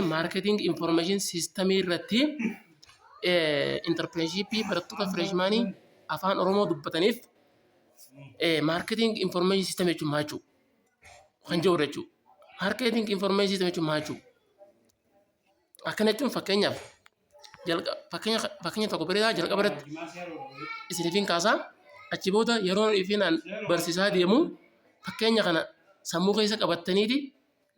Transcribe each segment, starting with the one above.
Maarkeeting Infoormeeshin Siistamii irratti intarpireenshipii barattoota fireeshmaanii afaan Oromoo dubbataniif maarkeeting infoormeeshin siistamii jechuun maal jechuudha? Kan jedhudha jechuudha. Maarkeeting infoormeeshin siistamii jechuun maal jechuudha? Akkana jechuun fakkeenyaaf jalqa- fakkeenya fakkeenya tokko bareedaa jalqaba irratti isiniifin kaasaa achi booda yeroo ifinaan barsiisaa deemu fakkeenya kana sammuu keessa qabattaniiti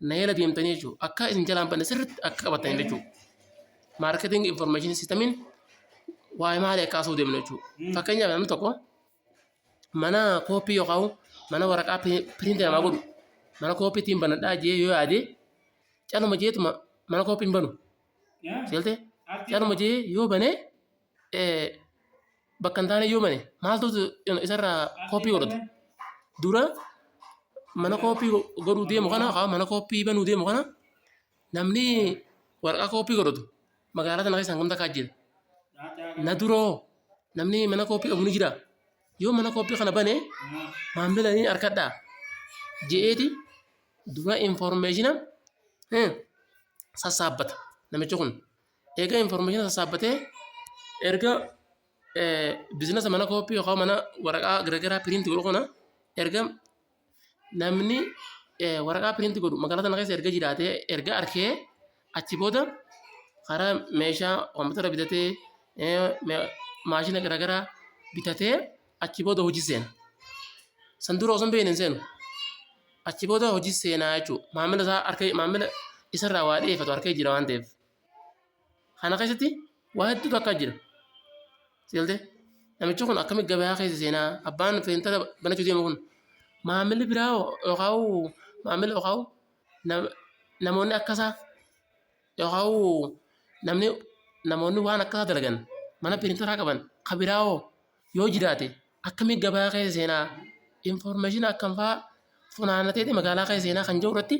Naayila deemtanii jechuudha. Akka isin jalaan banne sirriitti akka qabattan jechuudha. Maarkeeting information systemiin waa'ee maalii akka haasa'uu deemnu jechuudha. Fakkeenyaaf namni tokko mana kooppii yookaan mana waraqaa piriintii namaa godhu mana kooppii ittiin banadhaa jee yoo yaade caluma jeetuma mana kooppii hin banu. Seeltee caluma jee yoo banee bakka hin taane yoo bane maaltu isarraa kooppii godhata dura mana kooppii godhuu deemu kana haa mana kooppii banuu deemu kana namni waraqaa kooppii godhatu magaalaa sana keessaan gamta kaa jira na duroo namni mana kooppii qabu ni jira yoo mana kooppii kana bane maamila ni harkadhaa je'eeti dura informeeshina sassaabbata namichi kun Eega information sassaabbatee erga bizinasa mana kooppii yookaan mana waraqaa garagaraa piriinti godhu kana erga namni waraqaa piriinti godhu magaalaa sana keessa erga jiraatee erga arkee achi booda karaa meeshaa kompiitara bitatee maashina garagaraa bitatee achi booda hojii seena. San dura osoo hin beekne hin seenu. Achi booda hojii seenaa jechuudha. Maamila isaa harka maamila isarraa waa dhiyeeffatu harka jira waan ta'eef. Kana keessatti waa hedduutu akka jira. Seeltee namichi kun akkamitti gabayaa keessa seenaa abbaan seentara banachuu deemu kun maamilli biraa yookaan maamilli yookaan namoonni akka isaa yookaan namni namoonni waan akka isaa dalagan mana pirintaraa qaban kan biraa hoo yoo jiraate akkamitti gabayaa keessa seenaa infoormeeshinii akkam fa'aa funaannatee magaalaa keessa seenaa kan jiru irratti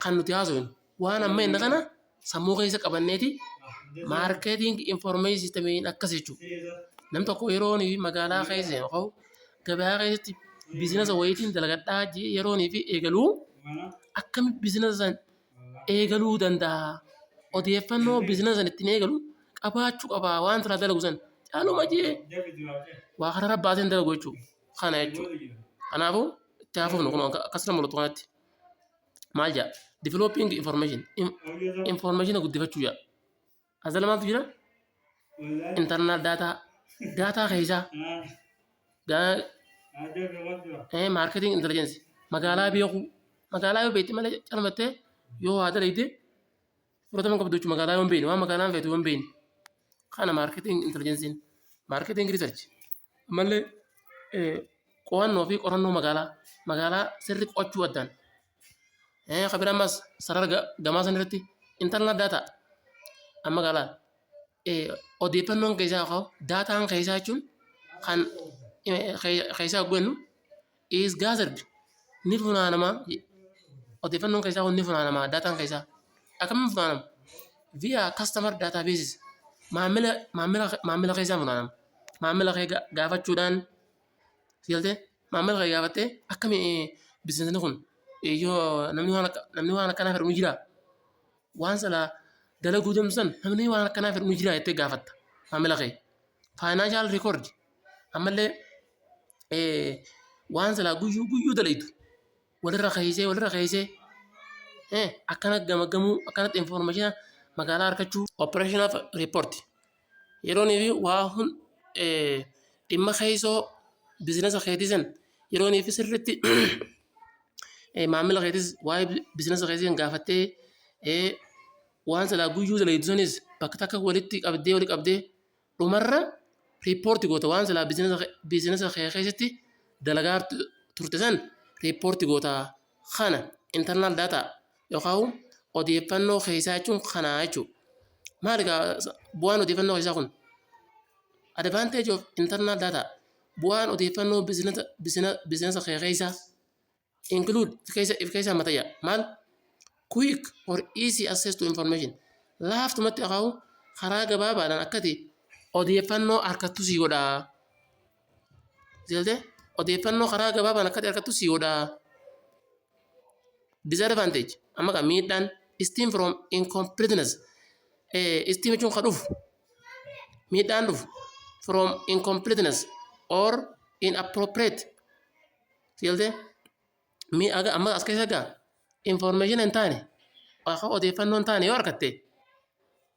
kan nuti haasofnu waan amma inni kana sammuu keessa qabanneeti maarkeeting informeeshin sistemiin akkas jechuudha. Nam tokko yeroo nuyi magaalaa keessa yoo ka'u gabaa keessatti biizinasa wayiitiin dalagadhaa jee yeroo nuuf eegalu akkamitti biizinasa san eegaluu danda'a? Odeeffannoo biizinasa san ittiin eegalu qabaachuu qaba waan silaa dalagu san caaluma jee waa kanarra baasee hin dalagu jechuudha. Kana jechuudha. Kanaafuu itti haa fufnu kunoo akkas na mul'atu kanatti. maal jedha developing information informationa guddifachuu jedha asala maaltu jira internal data data keessaa marketing intelligence magaalaa beekuu magaalaa yoo beekte malee calmattee yoo waa dalagde Fudhatama qabduuchu magaalaa yoon beekne waan magaalaan feetu yoon beekne kana maarkeeting intelligensiin maarkeeting riisarch ammallee qo'annoo fi qorannoo magaalaa magaalaa sirri qo'achuu addaan kan biraa ammas sarara gamaa san irratti intarnaal daataa amma magaalaa odeeffannoon keessaa ka'u daataan keessaa jechuun kan keessaa gwennu is gathered ni funaanama odeeffannoon keessaa kun ni funaanama daataan keessaa akkamiin funaanama via customer databases maamila maamila maamila keessaa funaanama maamila kee ga- gaafachuudhaan sigaltee maamila kee gaafattee akkami bizinesni kun eh, yoo namni waan akka- namni waan akkanaa fedhu ni jira waan sana dalaguu deemtu san namni waan akkanaa fedhu ni jira jettee gaafatta maamila kee faayinaanshal rikoordi Ammallee waan silaa guyyuu guyyuu dalaydu walirra keessee walirra keessee akkana gamagamuu akkanatti infoormeeshina magaalaa argachuu operaashinaaf riippoorti. Yeroonii fi waa hun dhimma keessoo biizinasa keetii san yeroonii fi sirriitti maamila keetis waa'ee biizinasa keetii san gaafattee waan silaa guyyuu dalaydu sanis bakka takka walitti qabdee walitti qabdee Dhumarra report goota waan silaa biizinasa kee keessatti dalagaa turte san report goota kana internal data yookaan odeeffannoo keessaa jechuun kana jechuudha. Maali kaa bu'aan odeeffannoo keessaa kun? Advantage of internal data bu'aan odeeffannoo biizinasa kee keessaa include if keessa if keessa mata yaa maal quick or easy access to information laaftumatti akaa'u karaa gabaabaadhaan akkati odeeffannoo harkattu sii godhaa jeelte odeeffannoo karaa gabaabaan akkati harkattu sii godhaa disadvantage amma kan miidhaan steam from incompleteness eh, steam jechuun ka dhufu miidhaan dhufu from incompleteness or inappropriate Sigaltee? Mee aga amma as keessa gaa information hin taane akka odeeffannoo hin taane yoo argatte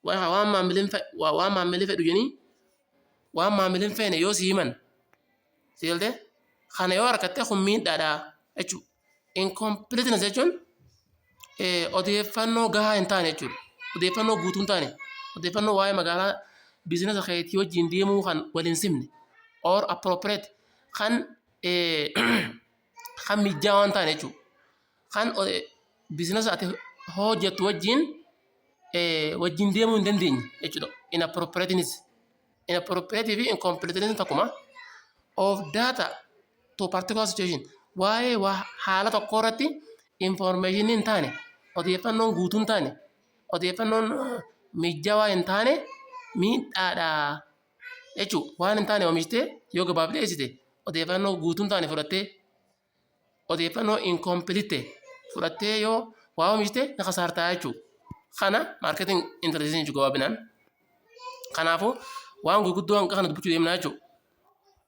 waa waan maamilin fe- waa waan maamilli fedhu jenii waan maamilin feene yoo si himan sigaltee kana yoo argatte kun miidhaadha jechuudha. Incompleteness jechuun eh, odeeffannoo gahaa hin taane jechuudha. Odeeffannoo guutuu hin taane odeeffannoo waa'ee magaalaa biizinasa keetii wajjin deemuu kan wal hin simne or appropriate kan kan mijjaa waan ta'an jechuudha. Kan biizinasa ati hojjettu wajjin wajjin deemuu hin dandeenye jechuudha. Inappropriateness. Inappropriate fi incompleteness tokkuma. Of data to particular situation. Waa'ee waa haala tokkoo irratti information hin taane odeeffannoon guutuu hin taane odeeffannoon mijjawaa hin taane miidhaadha jechuudha. Waan hin taane oomishtee yoo gabaaf dhiyeessite odeeffannoo guutuu hin taane fudhattee odeeffannoo incomplete fudhattee yoo waa oomishte ni kasaartaa jechuudha. Kana marketing intelligence jechuudha gabaabinaan. Kanaafuu waan gurguddoo hanqa kana dubbachuu deemnaa jechuudha.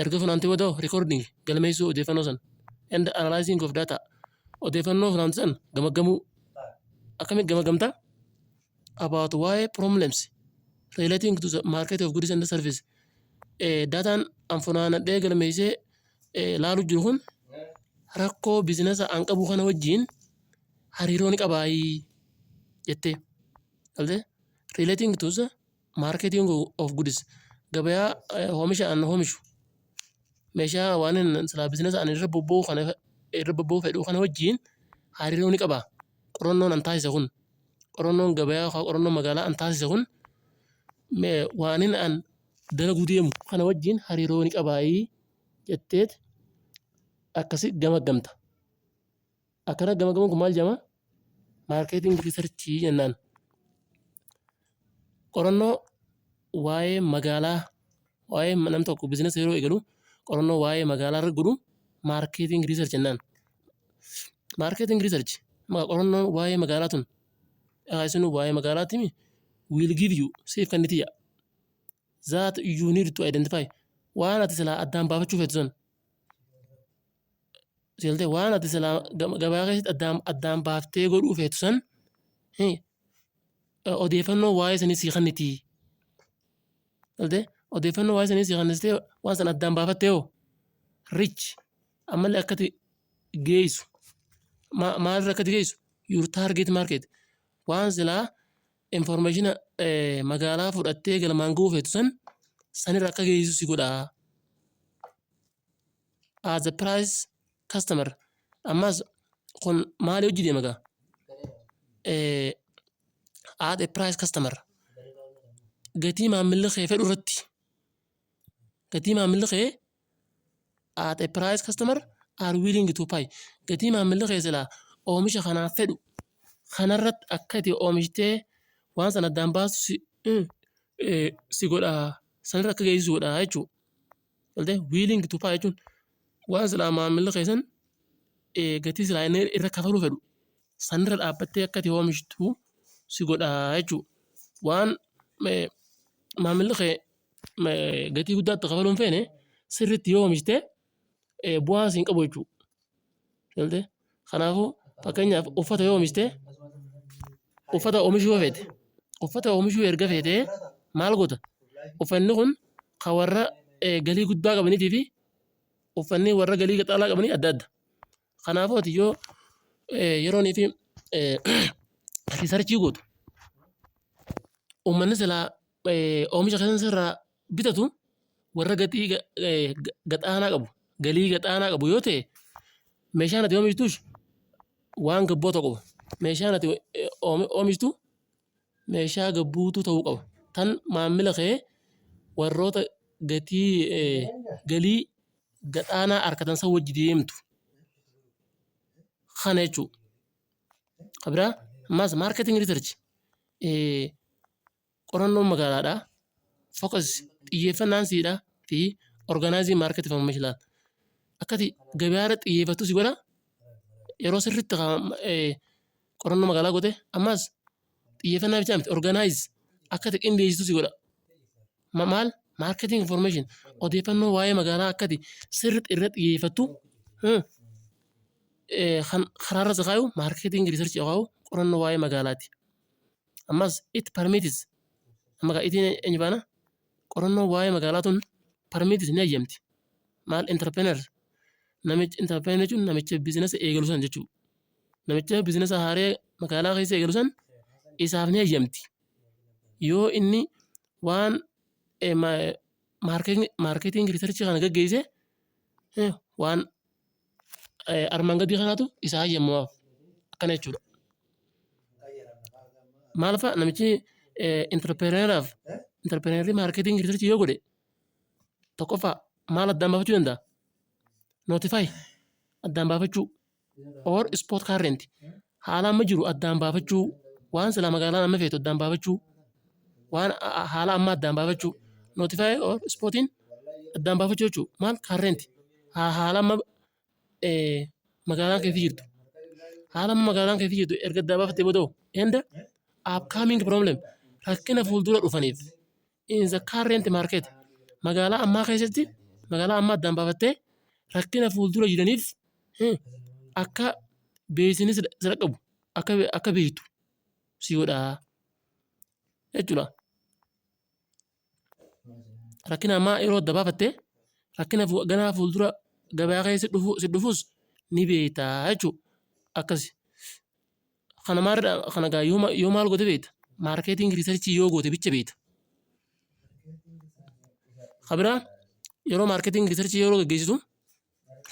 Erga funaantee booda hoo recording, galmeessuu odeeffannoo san, and analyzing of data, odeeffannoo funaante san gamaggamuu. Akkamitti gamaggamta? About waa'ee problems relating to the market of goods and service. Eh, dataan an funaanadhee galmeessee eh, laalu jiru kun rakkoo bizinasa an qabu kana wajjin hariiroo ni qabaayii jettee. Galtee? Relating to the Marketing of goods gabayaa hoomisha an hoomishu meeshaa waan silaa bizinasa an irra bobba'uu kana irra bobba'uu fedhu kana wajjin hariiroo ni qaba. Qorannoon an taasise kun qorannoon gabayaa yookaan qorannoon magaalaa an taasise kun waanin an dalaguu deemu kana wajjin hariiroo ni qabaayii jetteet akkasi gamaggamta. Akkana gamagamuun kun maal jedhama? Maarkeeting riisarchii jennaan. Qorannoo waa'ee magaalaa waa'ee nam tokko biizinasa yeroo eegalu qorannoo waa'ee magaalaa irra godhu maarkeeting riisarch jennaan. Maarkeeting riisarch qorannoo waa'ee magaalaa tun isin waa'ee magaalaa timi will give you siif kan niti that you need to identify waan ati silaa addaan baafachuu feetu sun Seeltee waan ati silaa gabaa keessatti addaan addaan baaftee godhuu feetu san odeeffannoo waa'ee sanii sii kenniti. Seeltee odeeffannoo waa'ee sanii sii kennistee waan san addaan baafattee hoo rich ammallee akkati geessu maalirra akkati geessu your target market waan silaa information magaalaa fudhattee galmaan ga'uu feetu san sanirra akka geessu si godhaa. as a price customer ammas kun maali hojii deema gaa Eh, as a price customer gatii maamilli kee fedhu irratti gatii maamilli kee as a price customer are willing to pay gatii maamilli kee silaa oomisha kanaaf fedhu kanarratti akka itti oomishtee waan sana addaan baastu si, eh, eh, si godha sanirra akka geessu si godha jechuudha. galtee wiiliing tu paa jechuun waan silaa maamilli keessan eh, gatii silaa inni irra kafaluu fedhu sanirra dhaabbattee akka ati oomishtu si godha jechuudha. Waan eh, maamilli kee eh, gatii guddaatti kafaluu hin feene sirriitti yoo oomishte eh, bu'aa siin qabu jechuudha. Galtee? Kanaafuu fakkeenyaaf uffata yoo oomishte uffata oomishuu yoo feete uffata oomishuu erga feete maal goota? Uffanni kun kan warra eh, galii guddaa qabaniitii fi uffanni warra galii qaxaalaa qabanii adda adda. Kanaafuu ati yoo eh, yeroonii fi eh, riisarchii gootu uummanni silaa eh, oomisha keessan sirraa bitatu warra gatii gaxaanaa qabu galii gaxaanaa qabu yoo ta'e meeshaan ati oomishtuus waan gabboo ta'u qaba. Meeshaan ati oomishtu meeshaa gabbuutu ta'uu qaba. Tan maamila kee warroota gatii galii gaxaanaa harkatan san wajji deemtu kana jechuudha. Kan biraa ammas maarketing riisarchi Qorannoon magaalaadhaa, focus, xiyyeeffannaan siidha, fi organizing market information laata. Akkati gabaa irratti xiyyeeffattu si godha. Yeroo sirriitti haa- eh, qorannoo magaalaa goote ammas xiyyeeffannaa bichaa miti organize akkati qindeessitu si godha. Ma- Maal marketing information odeeffannoo waa'ee magaalaa akkati sirriitti irra xiyyeeffattu hmm, eh, kan karaarra si kaayu marketing research haa kaayu qorannoo waa'ee magaalaati. Ammas it permits amma kan itiin eenyu faana qorannoo waa'ee magaalaa tun permits ni hayyamti. Maal entrepreneur namichi entrepreneur jechuun namicha biizinasa eegalu san jechuudha. Namicha biizinasa haaree magaalaa keessa eegalu san isaaf ni hayyamti. Yoo inni waan maarkeeting riisarchii kana gaggeesse eh, waan armaan gadii kanaatu isa hayyamaaf akkana jechuudha. Maal fa'a namichi intarpireeneraaf intarpireenerii maarkeetingii riisarchii yoo godhe tokkoffaa maal addaan baafachuu danda'a? Nootifaayi addaan baafachuu or ispoot kaarrenti haala amma jiru addaan baafachuu, waan silaa magaalaan amma feetu addaan baafachuu, waan a- a- haala amma addaan baafachuu, notify or spotting addaan baafachuu jechuudha. Maal current ha- haala amma eh, magaalaan keessa jirtu. Haala amma magaalaan keessa jirtu erga addaan baafattee booda hoo? and upcoming problem rakkina fuuldura dhufaniif in the current market magaalaa ammaa keessatti magaalaa ammaa addaan baafattee rakkina fuuldura jiraniif hmm, akka beeksisni si si dhaqqabu akka be- akka beektu si godha jechuudha. Rakkina ammaa yeroo adda baafattee rakkina fu- ganaa fuuldura gabaa keessa dhufu si dhufus ni beekta jechuudha akkasi. Kana maal kana gaa yoo ma- yoo maal goote beekta? Maarkeeting riisarchii yoo goote bicha beekta. Kabira yeroo maarkeeting riisarchii yeroo gaggeessitu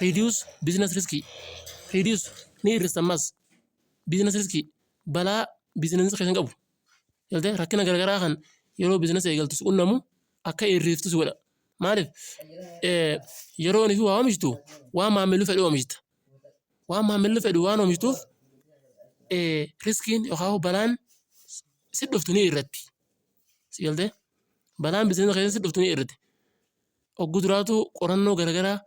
reduce business risk reduce ni hir'ista ammas business risk balaa biizinasii keessan qabu galtee rakkina garaagaraa kan yeroo biizinasii eegaltu si qunnamu akka hir'iftu si godha. Maaliif? Eh, Yeroo inni fi waa oomishtu waan maamilli fedhe oomishta. waan maamilli fedhu waan oomishtuuf riskiin yookaan balaan si dhuftu ni irratti. Si galtee? Balaan bizinesa keessatti si dhuftu ni irratti. Ogguu duraatu qorannoo garaagaraa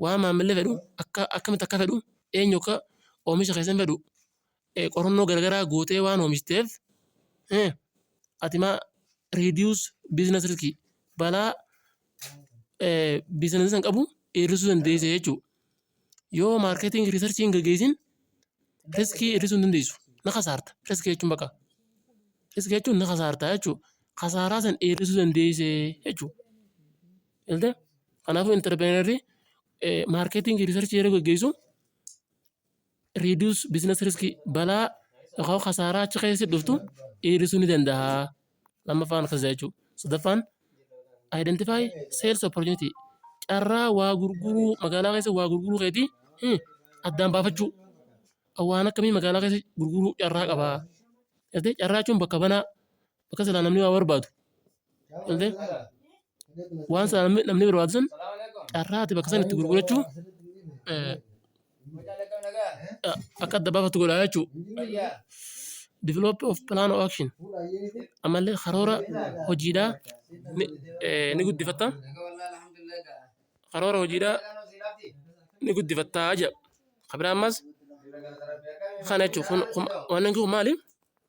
waan maamilli fedhu akka akkamitti akka fedhu eenyu akka oomisha keessan fedhu qorannoo garagaraa gootee waan oomishiteef ati maa reduce business risk balaa business san qabu hir'isuu dandeessa jechuudha. Yoo marketing research hin gaggeessin riskii hir'isuu hin dandeessu. Na kasaarta. Riskii jechuun bakka. Riskii jechuun na kasaarta jechuudha. Kasaaraa san hir'isuu dandeessa jechuudha. Ilta kanaafuu interpireenarri marketing research yeroo gaggeessu reduce business risk balaa yookaan kasaaraa achi keessatti dhuftu hir'isuu ni danda'a. Lammaffaan akkas jechuu. Sadaffaan identify sales opportunity carraa waa gurguruu magaalaa keessa waa gurguruu keetii hmm, addaan baafachuu. Waan akkamii magaalaa keessa gurguruu carraa qabaa. Gartee carraa jechuun bakka banaa bakka silaa namni waa barbaadu galtee waan silaa namni namni barbaadu sun carraa ati bakka sana itti gurgurachuu eh, akka adda baafatu godha jechuu develop of plan of action ammallee karoora hojiidhaa ni, eh, ni guddifatta karoora hojiidhaa ni guddifattaa jedha kabiraa ammas kana jechuun kun kun- waan inni kun maali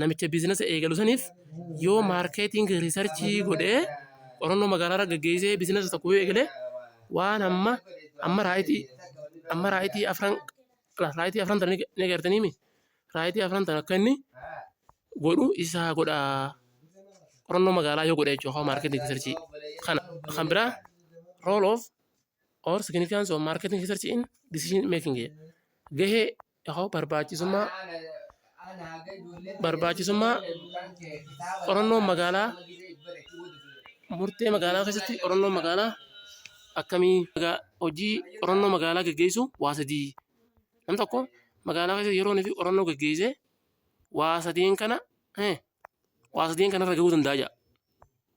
namicha biizinasa eegalu saniif yoo maarkeeting riisarchii godhee qorannoo magaalaa irra gaggeessee biizinasa tokko yoo eegale waan amma amma raayitii amma raayitii afran raayitii afran tana ni agartanii mi raayitii afran tana akka inni godhu isaa godha qorannoo magaalaa yoo godhe jechuudha maarkeeting riisarchii kana kan biraa rool oof or significance of marketing research in decision making gahee Yaa'oo barbaachisummaa barbaachisummaa qorannoo magaalaa murtee magaalaa keessatti qorannoo magaalaa akkamii magaa- hojii qorannoo magaalaa geggeessu waa sadii nam tokko magaalaa keessa yeroo inni fi qorannoo geggeessee waa sadeen kana eh, waa sadeen kana irra gahuu danda'a jedha.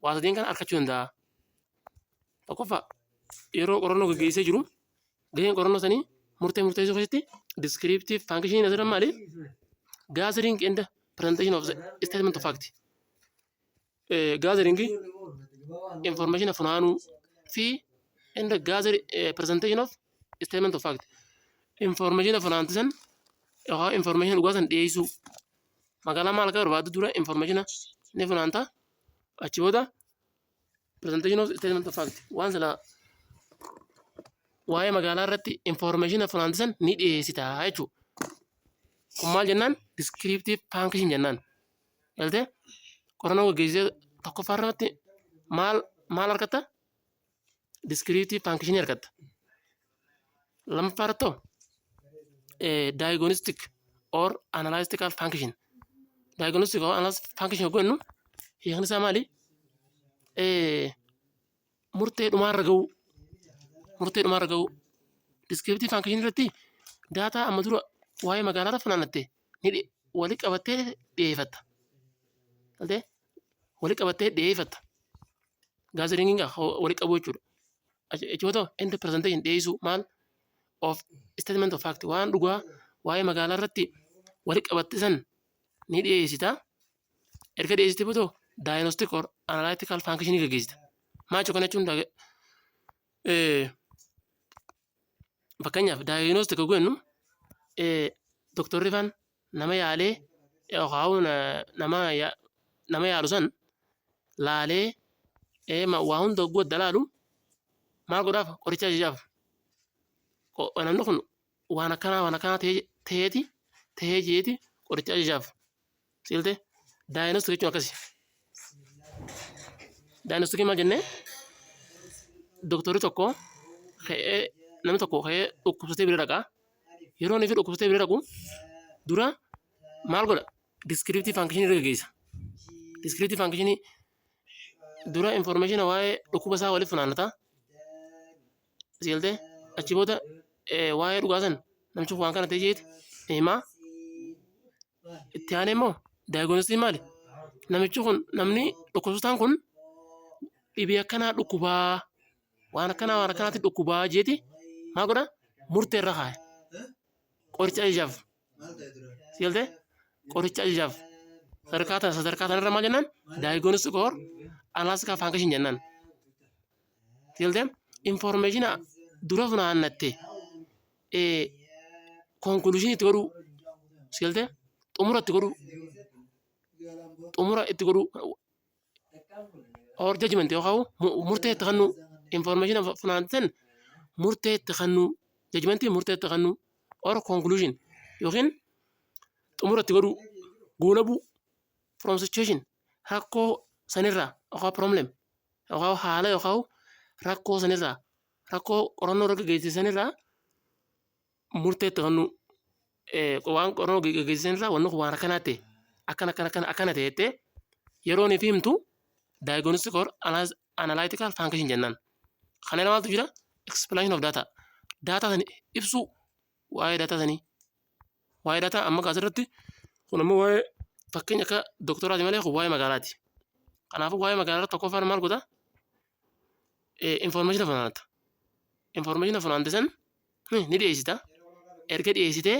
Waa sadeen kana argachuu danda'a. Tokkoffaa yeroo qorannoo geggeessee jiru Gaheen qorannoo sanii murtee murteessuu keessatti descriptive function asirra maali? Gathering and presentation of the statement of fact. Eh, Gathering information funaanuu fi and gather eh, presentation of statement of fact. Information funaanti san yookaan information dhugaa san dhiyeessuu. Magaalaa maal akka barbaaddu dura information ni funaanta. Achi booda presentation of statement of fact waan silaa waa'ee magaalaa irratti information funaantisan ni dhiyeessita jechuudha. Kun maal jennaan descriptive function jennaan. Galtee qorannoo gaggeessee tokkoffaa irratti maal maal argatta? Descriptive function argatta. Lammaffaa irratti hoo diagnostic or analytical function. Diagnostic or analytical function yoo jennu hiikni isaa maali? Eh, Murtee dhumaarra ga'uu. Murtee dhumaarra ga'uu. Descriptive function irratti daataa amma dura waa'ee magaalaa funaannatte ni dhi- walitti qabattee dhiyeeffatta. Galtee? wali qabattee dhiyeeffatta. Gaazexeetiin wali qabu jechuudha. Jechoota end presentation dhiyeessuu maal of statement of fact waan dhugaa waa'ee magaalaa irratti wali qabatte san ni dhiyeessita. Erga dhiyeessite booda diagnostic or analytical function ni gaggeessita. Maal kana jechuun fakkeenyaaf daayinoos tokko goonu doktorri faan nama yaalee yookaan nama nama yaalu san laalee waa hunda hogguu adda laalu maal godhaaf qoricha ajajaaf namni kun waan akkanaa waan akkanaa ta'eeti ta'ee jeeti qoricha ajajaaf Silte daayinostik jechuun akkasi. Daayinostikii maal jennee? Doktorri tokko ka'ee namni tokko ka'ee dhukkubsatee bira dhaqa. Yeroo inni fi dhukkubsatee bira dhaqu dura maal godha? Diskiriiptii faankishinii irra gaggeessa. Diskiriiptii faankishinii dura infoormeeshina waa'ee dhukkuba isaa waliif funaannata. Silte achi booda waa'ee dhugaa san namichi waan kana ta'e jeeti himaa. Itti aanee immoo daayigoonistiin maali? Namichi kun namni dhukkubsataan kun dhibee akkanaa dhukkubaa waan akkanaa waan akkanaatti dhukkubaa jeeti maa godha murtee irra kaaya. Qoricha ajajaaf. Si galtee? Qoricha ajajaaf. Sadarkaa tana sadarkaa tanarra maal jennaan? Daayigoonistik or alaastikaa faankashin jennaan. Si galtee? Infoormeeshina dura funaannatte konkuluushinii itti godhuu si galtee xumura itti godhuu xumura itti godhuu or judgment yookaan murtee itti kennuu information funaantan murtee itti kennuu judgment murtee itti kennuu or conclusion yookiin xumura itti godhuu goolabuu from situation rakkoo sanirraa yookaan problem yookaan haala yookaan rakkoo sanirraa rakkoo qorannoo irra gaggeessisan irraa murteetti kan nu waan qorannoo gaggeessisan irraa wanni kun waan akkanaa ta'e akkana akkana akkana akkana ta'e jettee yeroo nuuf himtu diagnostic or analytical function jennaan. Kana irra maaltu jira? Explanation of data. Data sana ibsuu waa'ee daataa sanii waa'ee daataa amma kaas irratti kun ammoo waa'ee fakkeenya akka doktoraati malee kun waa'ee magaalaati kanaafuu waa'ee magaalaa irratti tokkoffaan maal godha information funaanata information funaante san ni dhiyeessita erga dhiyeessitee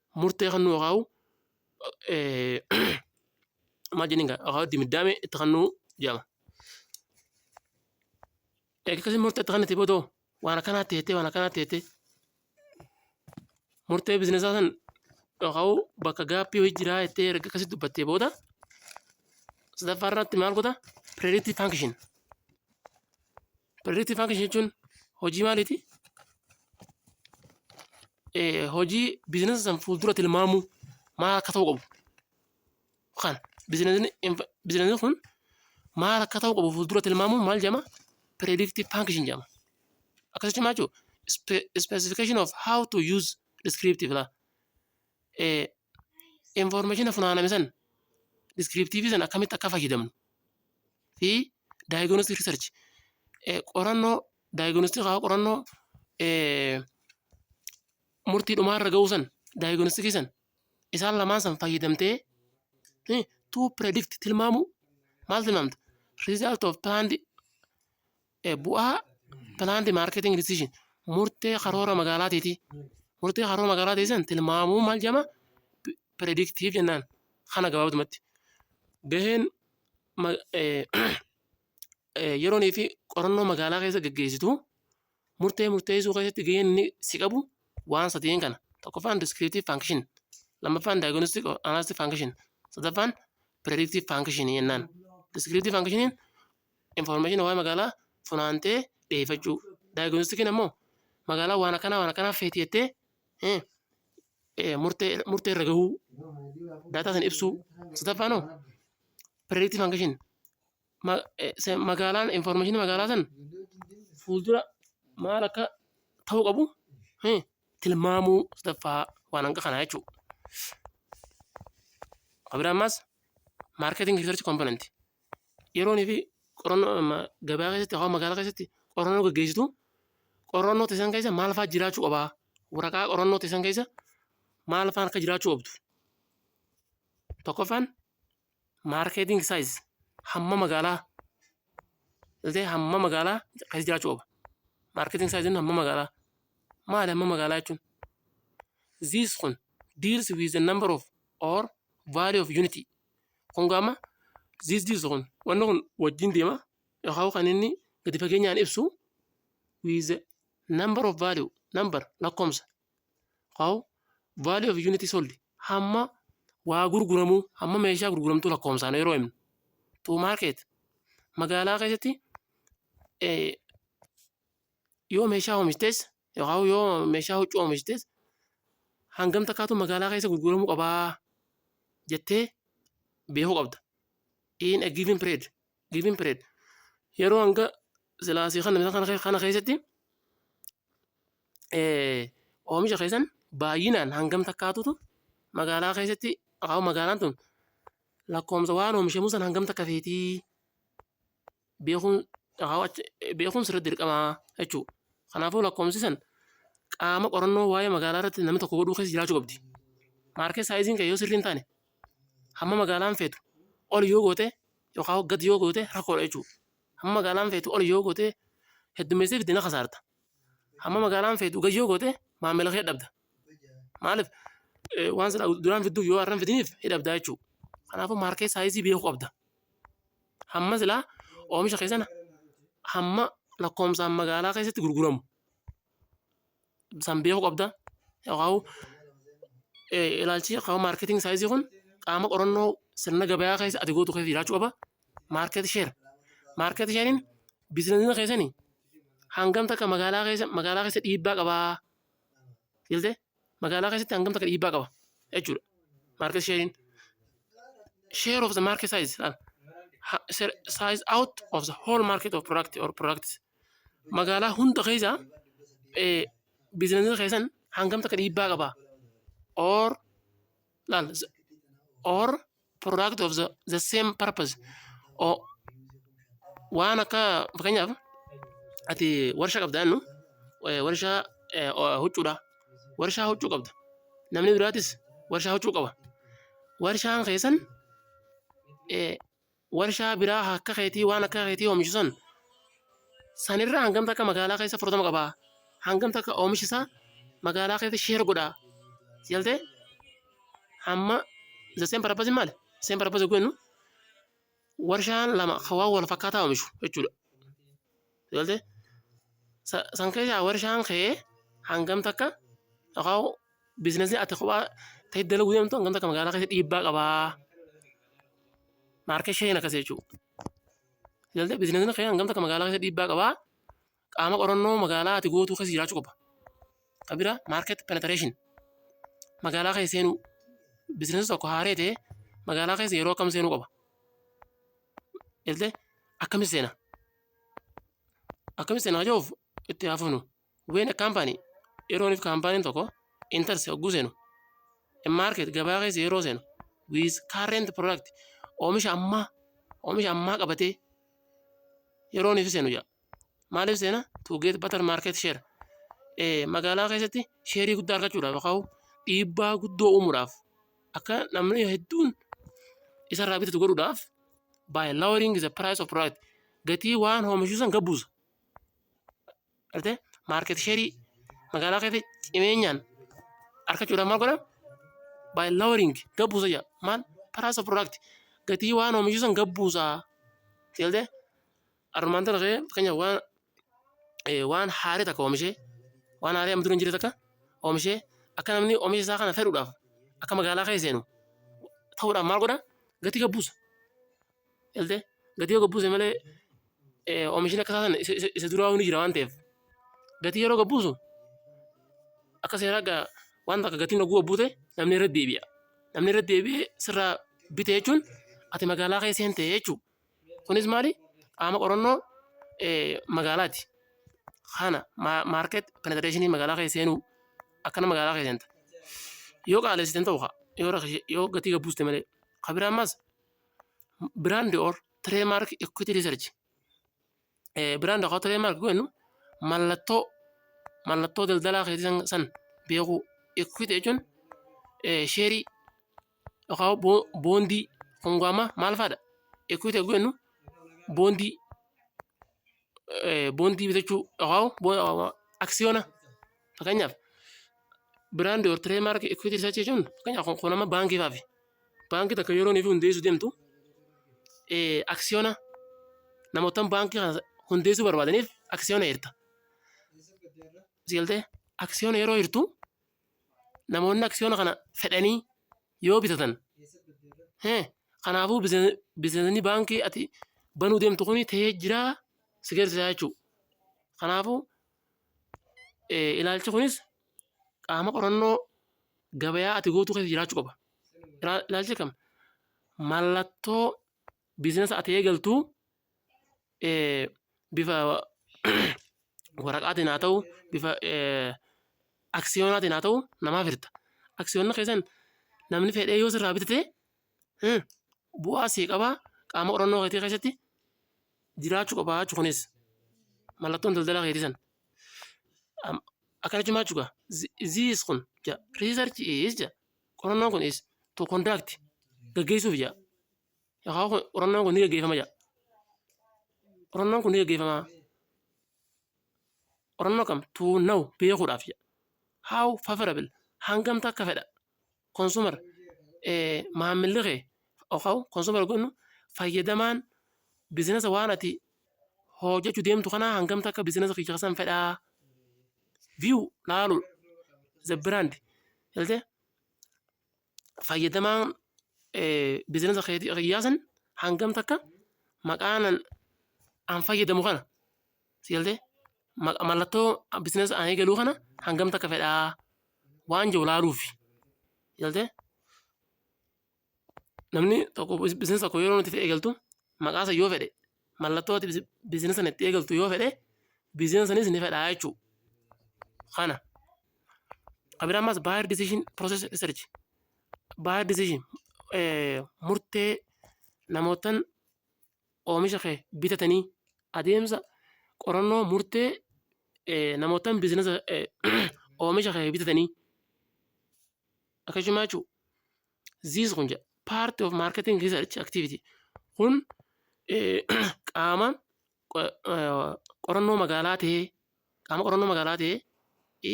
murtee kennuu yookaan maal jennin gaa yookaan dimiddaame itti kennuu jedhama. Egaa akkasii murtee itti kennite boodoo waan akkanaa teettee waan akkanaa teettee murtee bizinesaa san yookaan bakka gaappii hojii jiraa jettee erga akkasii dubbattee booda sadaffaa irratti maal godha pireeditii faankishin Predictive function jechuun hojii maaliiti? Eh, Hojii biizinasa san fuuldura tilmaamuu maal akka ta'u qabu. Kan biizinasni inf- biizinasni kun maal akka ta'u qabu fuuldura tilmaamuun maal jedhama? Predictive function jedhama. Akkasii cimaa jiru. Specification of how to use descriptive la. Eh, Information funaaname san descriptive san akkamitti akka fayyadamnu fi diagnostic research eh, qorannoo diagnostic haa qorannoo eh, murtii dhumaa irra ga'uu san diagnostic san isaan lamaan san fayyadamtee eh, to predict tilmaamu maal tilmaamta result of planned Eh, Bu'aa planned marketing decision murtee karoora magaalaatiiti. Murtee karoora magaalaa teessan tilmaamuu maal jedhama? P- Predictive jennaan. Kana gabaabdumatti. Gaheen ma- eh, eh, yeroonii fi qorannoo magaalaa keessa gaggeessitu murtee murteessuu keessatti gaheen inni si qabu waan sadeen kana. Tokkoffaan descriptive function, lammaffaan diagnostic or analytic function, sadaffaan predictive function jennaan. Descriptive functioniin information waa'ee magaalaa funaantee dhiyeeffachuu. Diagnostikiin ammoo magaalaa waan akkanaa waan akkanaa feeti jettee eh, eh, murtee murtee irra gahuu daataa sana ibsuu. Sadaffaan hoo predictive function Ma- eh, se- magaalaan information magaalaa san fuuldura maal akka ta'uu qabu eh, tilmaamuu sadaffaa waan hanga kanaa jechuudha. Abiraammas marketing research component yeroonii fi qorannoo amma gabaa keessatti hawa magaalaa keessatti qorannoo gaggeessitu qorannoo teessan keessa maal fa'aa jiraachuu qabaa? Waraqaa qorannoo teessan keessa maal fa'aan akka jiraachuu qabdu? Tokkoffaan maarkeeting saayiz hamma magaalaa illee hamma magaalaa keessa jiraachuu qaba. Maarkeeting saayiziin hamma magaalaa maali hamma magaalaa jechuun? This kun deals with the number of or value of unity Kun gaama this this kun wanni kun wajjin deema yookaan kan inni gadi fageenyaan ibsu with the number of value number lakkoomsa yookaan value of unit sold hamma waa gurguramuu hamma meeshaa gurguramtuu lakkoomsaan yeroo himnu to market magaalaa keessatti eh, Yoo meeshaa oomishtes yookaan yoo meeshaa huccuu oomishtes hangam takkaatu magaalaa keessa gurguramuu qabaa jettee beekuu qabda. In a given period. Given period. Yeroo hanga silaasii kana isa kana kana keessatti eh, oomisha keessan baay'inaan hangam takkaatutu magaalaa keessatti yookaan magaalaan tun lakkoomsa waan oomishamuu san hangam takka feetii beekuun beekuun sirra dirqamaa jechuu kanaafuu lakkoomsi san qaama qorannoo waa'ee magaalaa irratti namni tokko godhuu keessa jiraachuu qabdi maarkee saayiziin kee yoo sirrii hin taane hamma magaalaan feetu ol yoo goote yookaan gad yoo goote rakkoodha jechuu hamma magaalaan feetu ol yoo goote heddummeessee fidina kasaarta hamma magaalaan feetu gad yoo goote maamila kee dhabda maaliif waan sana duraan fidduuf yoo har'an fidiniif hidhabdaa jechuudha. Kanaafuu maarkee saayizii beekuu qabda. hamma silaa oomisha keessan hamma lakkoomsaan magaalaa keessatti gurguramu san beekuu qabda yookaan ilaalchi yookaan maarkeeting saayizii kun qaama qorannoo sirna gabayaa keessa ati gootu keessa jiraachuu qaba maarkeet sheer maarkeet sheeriin biizinasii keessanii hangam takka magaalaa keessa magaalaa keessa dhiibbaa qabaa jettee magaalaa keessatti hangam takka dhiibbaa qaba jechuudha. Market sharing share of the market size laal. Ha- se- size out of the whole market of product or products magaalaa hunda keessa eh, biizinasii keessan hangam takka dhiibbaa qaba or laal s- or product of the, the same purpose o waan akka fakkeenyaaf ati warshaa qabda jennu eh, warshaa eh, o- huccuudha warshaa huccuu qabda namni biraatis warshaa huccuu qaba warshaan keessan eh, warshaa biraa akka keetii waan akka keetii oomishu san sanirraa hangamta akka magaalaa keessa fudhatama qaba hangamta akka oomishisaa magaalaa keessa sheer godha jaltee Amma the same purpose maali? Same purpose goonu warshaan lama kan waan wal fakkaataa oomishu jechuudha. Galte san keessaa warshaan kee hangam takka yookaan biizinasii ati kophaa ta'e dalaguu deemtu hangam takka magaalaa keessa dhiibbaa qabaa? Maarkee sheen akkas jechuudha. Galte biizinasiin kee hangam takka magaalaa keessa dhiibbaa qabaa? qaama qorannoo magaalaa ati gootuu keessa jiraachuu qaba. Ka bira market penetration magaalaa keessa seenuu bizinesi tokko haaree ta'e magaalaa keessa yeroo akkam seenuu qaba. Illee akkamitti seena? Akkamitti seena ajoof itti haafufnu. When a company yerooniif kaampaaniin tokko enters hogguu seenu a market gabaa keessa yeroo seenu with current product oomisha ammaa oomisha ammaa qabatee yerooniif seenu jedha. maaliif seena to get better market share Eh, magaalaa keessatti sheerii guddaa argachuudhaaf yookaan dhiibbaa guddoo uumuudhaaf akka namni hedduun isarraa bitatu godhuudhaaf by lowering the price of product gatii waan oomishuu san gabbuusa. Artee market share magaalaa keessatti cimeenyaan argachuudhaaf maal godha? By lowering gabbuusa jedha. Maal price of product gatii waan oomishuu san gabbuusa. Seeltee Armaan tana kee fakkeenyaaf waan eh, waan haarii takka oomishee waan haarii amma dura hin jirre takka oomishee akka namni oomisha isaa kana fedhuudhaaf akka magaalaa kee seenu ta'uudhaaf maal godha gatii gabbuusa galtee gatii yoo gabbuuse malee eh, oomishni akka isaa sana isa isa- isa duraa ni jira waan ta'eef gatii yeroo gabbuusu akka seeraa gaa waan takka gatiin oguu gabbuute namni irra deebi'a namni irra deebi'ee sirraa bite jechuun ati magaalaa kee seente jechuudha. Kunis maali? Qaama qorannoo magaalaati. Kana maarket penetrationii magaalaa keessa seenuu akkana magaalaa keessa seenta. Yoo qaalessiten ta'u kaa yoo rakishe yoo gatii gad buuste malee. Kabira ammas brand or trademark equity research eh, biraan daqaa ta'ee maal goonu mallattoo mallattoo daldalaa keetii san- san beekuu equity jechuun eh, sheerii yookaan boo- boondii kongoama maal faadha equity goonu boondii eh, boondii bitachuu yookaan boo- aksiyoona fakkeenyaaf biraandii or tireemarkii equity research jechuun fakkeenyaaf kun kun amma baankii faafi baankii takka yeroo nuuf hundeessuu deemtu aksiyoona namootaan baankii kana hundeessuu barbaadaniif aksiyoona hirta. Sigaltee aksiyoona yeroo hirtu namoonni aksiyoona kana fedhanii yoo bitatan kanaafuu bineensonni baankii ati banuu deemtu kun ta'ee jiraa si garsiisaa jechuudha. Kanaafuu Eh, Ilaalchi kunis qaama qorannoo gabayaa ati gootuu keessa jiraachuu qaba. Ilaa- Ilaalchi kam? Mallattoo biizinasa ati eegaltu eh, bifa waraqaatiin haa ta'u, bifa eh, aksiyoonaatiin haa ta'u namaaf hirta. Aksiyoonna keessan namni fedhee yoo sirraa bitate Hmm. Bu'aa sii qabaa qaama qorannoo keetii keessatti jiraachuu qabaa jechuudha kunis mallattoon daldala keetii san. Am- Akkana cimaa jechuudha. Ziis kun ja research is ja qorannoon kun is to conduct gaggeessuuf ja yookaan kun- qorannoon kun ni gaggeeffama ja qorannoon kun ni gaggeeffama qorannoo kam to know beekuudhaaf ja how favorable hangamta akka fedha consumer maammilli kee yookaan consumer kun fayyadamaan bizinasa waan ati hojjechuu deemtu kanaa hangam takka bizinasa kiyya keessan fedhaa view laaluu the brand galtee fayyadamaan bizinasa kiyyaa san hangam takka maqaan an fayyadamu kana Si galtee? Ma- Mallattoo bizinesi ani eegaluu kana hangam takka fedhaa waan jiru laaluufi. Si galtee? Namni tokko biz- bizinesi tokko yeroo nuti eegaltu maqaa san yoo fedhe mallattoo ati bizi- bizinesi sana itti eegaltu yoo fedhe bizinesi sanis ni fedhaa jechuu kana. Kabira ammas buyer decision process research buyer decision eh, murtee namootan oomisha kee bitatanii adeemsa qorannoo murtee namootaan biizinasa oomisha kee bitatanii akkasuma jechuun ziis kun jedha paartii of maarkeeting riisarch aktivitii kun qaama qorannoo magaalaa ta'ee qaama qorannoo magaalaa ta'ee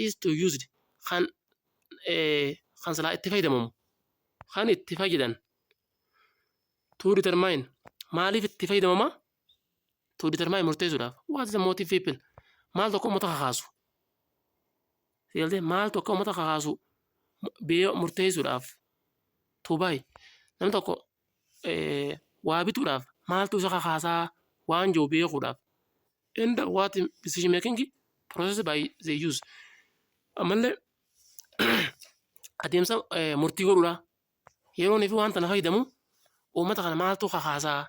is to used kan kan silaa itti fayyadamamu kan itti fayyadan to determine maaliif itti fayyadamama to determine murteessuudhaaf what is the motive people maal tokko uummata kakaasu seeltee maal tokko uummata kakaasu biyya murteessuudhaaf to buy namni tokko eh, waa bituudhaaf maaltu isa kakaasaa waan jiru beekuudhaaf and what decision making process by the use ammallee adeemsa eh, murtii godhuudha Yeroon fi waan tana fayyadamu uummata kana maaltu kakaasaa?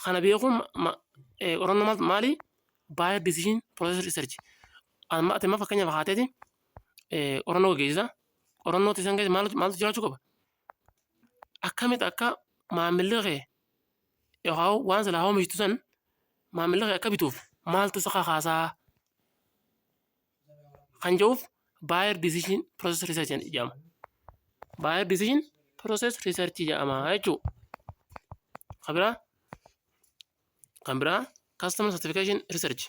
Kana beekuun qorannoo maal maali? Buyer decision process research. Amma ati amma fakkeenya fakkaatee qorannoo gaggeessita. Qorannoo keessan keessa maaltu maaltu jiraachuu qaba? Akkamitti akka maamilli kee yookaan waan silaa oomishtu san maamilli kee akka bituuf maaltu isa kakaasaa? kan jedhuuf buyer decision process research jedhama. Buyer decision process research jedhama jechuudha. Kan biraa kan biraa customer certification research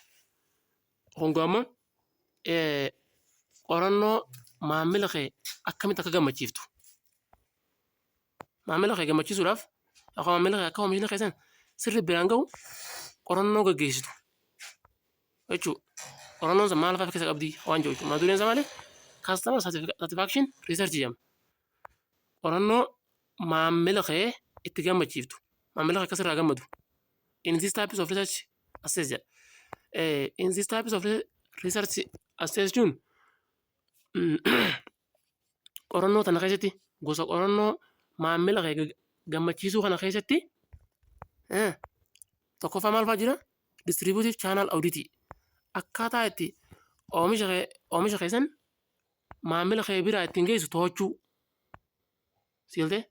kun gaama qorannoo maamila kee akkamitti akka gammachiiftu Maamila kee gammachiisuudhaaf akka maamila kee akka oomishni keessan sirri biraan ga'u qorannoo gaggeessitu jechuu qorannoon sun maal fa'a keessa qabdi waan jedhu jechuudha. Mata dureen isaa maali? Customer satisfaction research jedhama. Qorannoo maamila kee itti gammachiiftu maamila kee akka sirraa gammadu in this types of research assess jedha. Eh, in this types of re- research assess jechuun mm, qorannoo tana keessatti gosa qorannoo maammila kee gag- gammachiisuu kana keessatti eh, tokkoffaa maal fa'aa jira? Distributive channel audit akkaataa itti oomisha kee oomisha keessan maammila kee biraa ittiin geessu to'achuu siiltee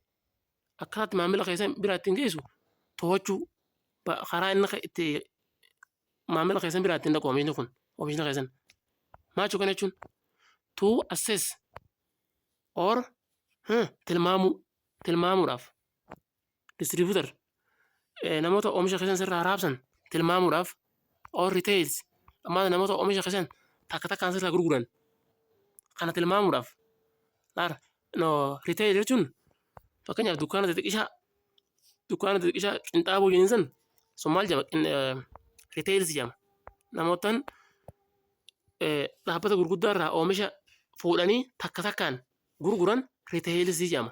akkaataa itti maammila keessan biraa ittiin geessu to'achuu ba- karaa inni ke- itti maamila keessan biraatti hin dhaqu oomishni kun oomishni keessan maachu kana jechuun to assess or huh, tilmaamuu tilmaamuudhaaf distributor eh, namoota oomisha keessan sirraa raabsan tilmaamuudhaaf or retails ammaa namoota oomisha keessan takka takkaan sirraa gurguran kana tilmaamuudhaaf laara no retail jechuun fakkeenyaaf dukkaana xixiqqishaa dukkaana xixiqqishaa qinxaaboo jennin san sun maal jedhama Qin- eh, retails jedhama namootaan eh, dhaabbata gurguddaa irraa oomisha fuudhanii takka takkaan gurguran retails jedhama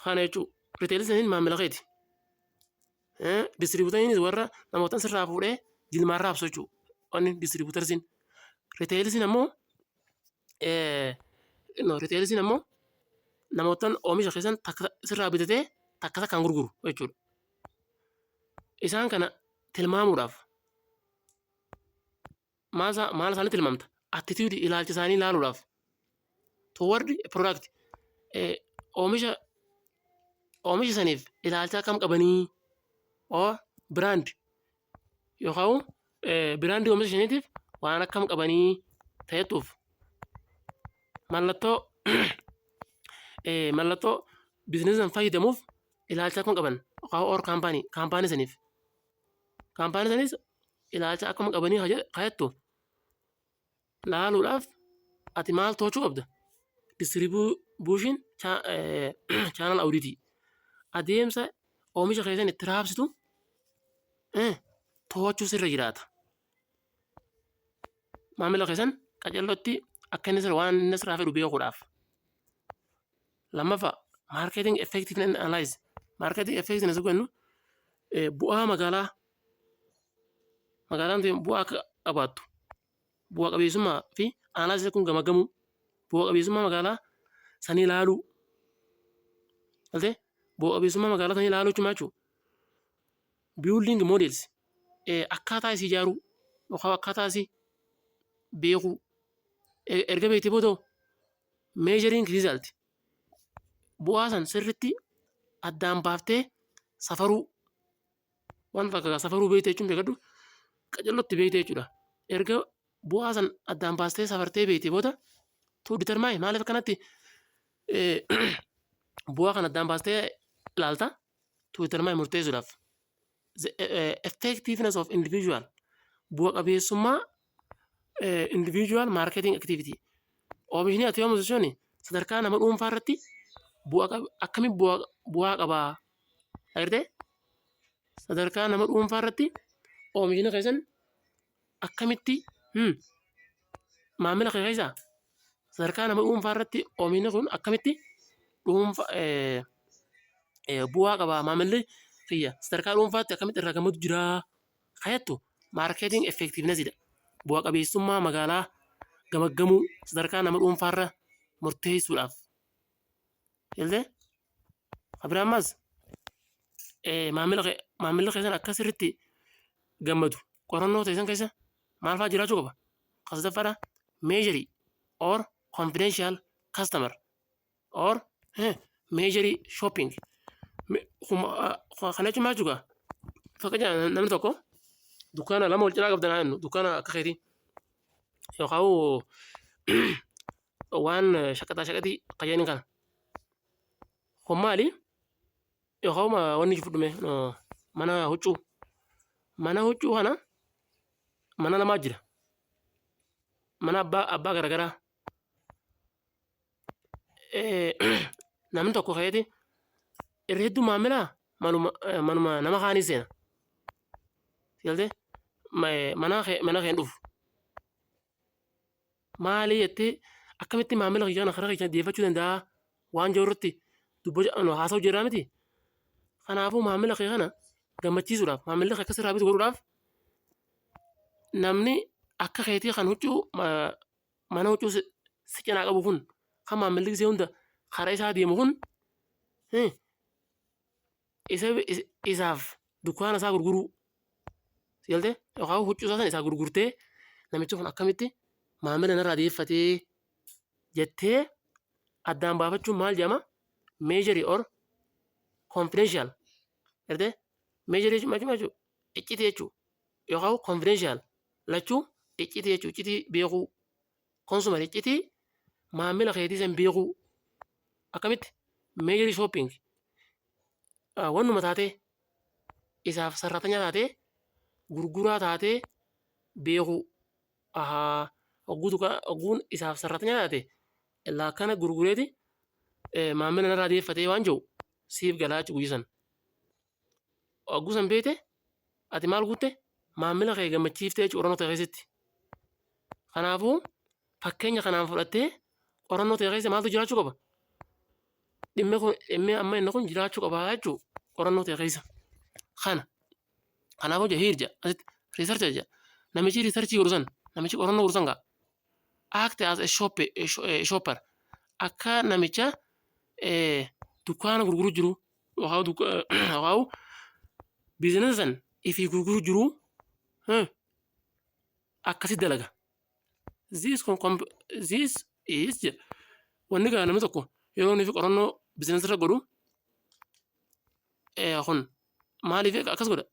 kana jechuun retails jechuun maamila keeti Distribuutariinis warra namootan sirraa fuudhee jilmaarraa absochuu. Wanni distribuutarsiin. Riteelisiin ammoo no riteelisiin ammoo namootan oomisha keessan takka sirraa bitatee takka takkaan gurguru jechuudha. Isaan kana tilmaamuudhaaf maal isaa- maal isaanii tilmaamta? Attitude ilaalcha isaanii ilaaluudhaaf. Toward a product. Eh, Oomisha oomisha saniif ilaalcha akkam qabanii? Or brand yookaan eh, brand oomisha saniitiif waan akkam qabanii ta'etuuf mallattoo eh, mallattoo biizinasii san fayyadamuuf ilaalcha akkam qaban yookaan or kaampaanii kaampaanii saniif. Kaampaanii sanis ilaalcha akkuma qabanii haa jedhe- haa jettu laaluudhaaf ati maal to'achuu qabda? Distribution cha- eh, channel audit adeemsa oomisha keessan itti raabsitu eh, to'achuu sirra jiraata. Maamila keessan qacellotti akka inni sirra waan inni sirraa fedhu beekuudhaaf. Lammaffaa marketing effectiveness and analyze. Marketing effectiveness yoo jennu eh, bu'aa magaalaa magaalaan tun bu'aa akka qabaattu bu'aa qabeessummaa fi analyze kun gamagamuu bu'aa qabeessummaa magaalaa sanii ilaaluu galtee bu'aa qabeessummaa magaalaa sanii ilaaluu jechuun maal jechuudha? building models eh, akkaataa isii ijaaruu yookaan akkaataa isii beekuu E- erga beektee booda measuring result bu'aa san sirritti addaan baaftee safaruu waan fakkaata safaruu beekte jechuun beekadhu qacellotti beekte jechuudha erga bu'aa san addaan baastee safartee beekte booda tuu determine maaliif akkanatti eh, bu'aa kan addaan baastee ilaalta tuu determine murteessuudhaaf the eh, effectiveness of individual bu'a qabeessummaa eh, individual marketing activity oomishni ati oomishu sun sadarkaa nama dhuunfaa irratti bu'a qab- akkamiin bu'a bu'aa qabaa dhagirtee sadarkaa nama dhuunfaa irratti oomishni keessan akkamitti hmm, maamila kee keessa sadarkaa nama dhuunfaa irratti oomishni kun akkamitti dhuunfa eh, eh, bu'aa qaba maamilli kiyya sadarkaa dhuunfaatti akkamitti irraa gammadu jira kayattu maarkeeting effektiivnesidha bu'a qabeessummaa magaalaa gamaggamuu sadarkaa nama dhuunfaarra murteessuudhaaf Galtee? Abira ammas maamila kee maamilli keessan akka sirriitti gammadu qorannoo keessan keessa maal fa'aa jiraachuu qaba? Kasataffaadha meejarii or confidential customer or meejarii shopping kana jechuun maal jechuudha? Fakkeenyaaf namni tokko dukkaana lama wal cinaa qabdan haa jennu dukkaana akka keetii yookaan waan shaqaxaa shaqaxii qajeelin kana kun maali yookaan wanni jiru dhume mana huccuu mana huccuu kana mana lamaa jira mana abbaa abbaa garagaraa namni tokko ka'eeti irra hedduu maamilaa manuma manuma nama kaanii seena galtee mana kee mana keen dhufu Maali jettee akkamitti maamila kiyya kana karaa keessan dhiyeeffachuu danda'a waan jiru irratti dubbachuu haasa'u jirraa miti. Kanaafuu maamila kee kana gammachiisuudhaaf maamilli kee akka sirraa bitu godhuudhaaf namni akka keetii kan huccuu mana huccuu si cinaa qabu kun kan maamilli gisee hunda karaa isaa deemu kun isa isaaf dukkaana isaa gurguruu si galte yookaan huccuu isaa sana isaa gurgurtee namichi kun akkamitti maamila narraa deeffatee jettee addaan baafachuun maal jedhama meejarii or konfidenshiyal galte meejarii jechuun maal jechuun iccitii jechuun yookaan konfidenshiyal lachuu iccitii jechuun iccitii beekuu Consumer iccitii maamila keetii san beekuu. Akkamitti? Meeyiri shopping. Ah, Wannuma taatee isaaf sarratanyaa taatee gurguraa taatee beekuu. Ahaa, hogguu duka hogguun isaaf sarratanyaa taate illaa kana gurgureeti eh, maamila narraa deeffatee waan jiru siif galaachu guyya san. Hogguu san beekte ati maal guutte maamila kee gammachiiftee jechuudha qorannoo ta'e keessatti. Kanaafuu fakkeenya kanaan fudhattee qorannoo ta'e keessa maaltu jiraachuu qaba? Dhimmi kun dhimmi amma inni kun jiraachuu qaba jechuudha qorannoo ta'e keessa. Kana kanaafuu jira hiirja asitti riisarcha jira namichi riisarchii godhu san namichi qorannoo godhu san gaa act as a shop a shopper akka namicha dukkaana gurguru jiru Hawaa duk- eh, hawaa biizinasa san ifii gurguru jiru eh, akkasi dalaga. This, com- com- this is jedha. Wanni kana namni tokko yeroo inni fi qorannoo biizinasa irra godhu eh, kun maaliif akkas godha?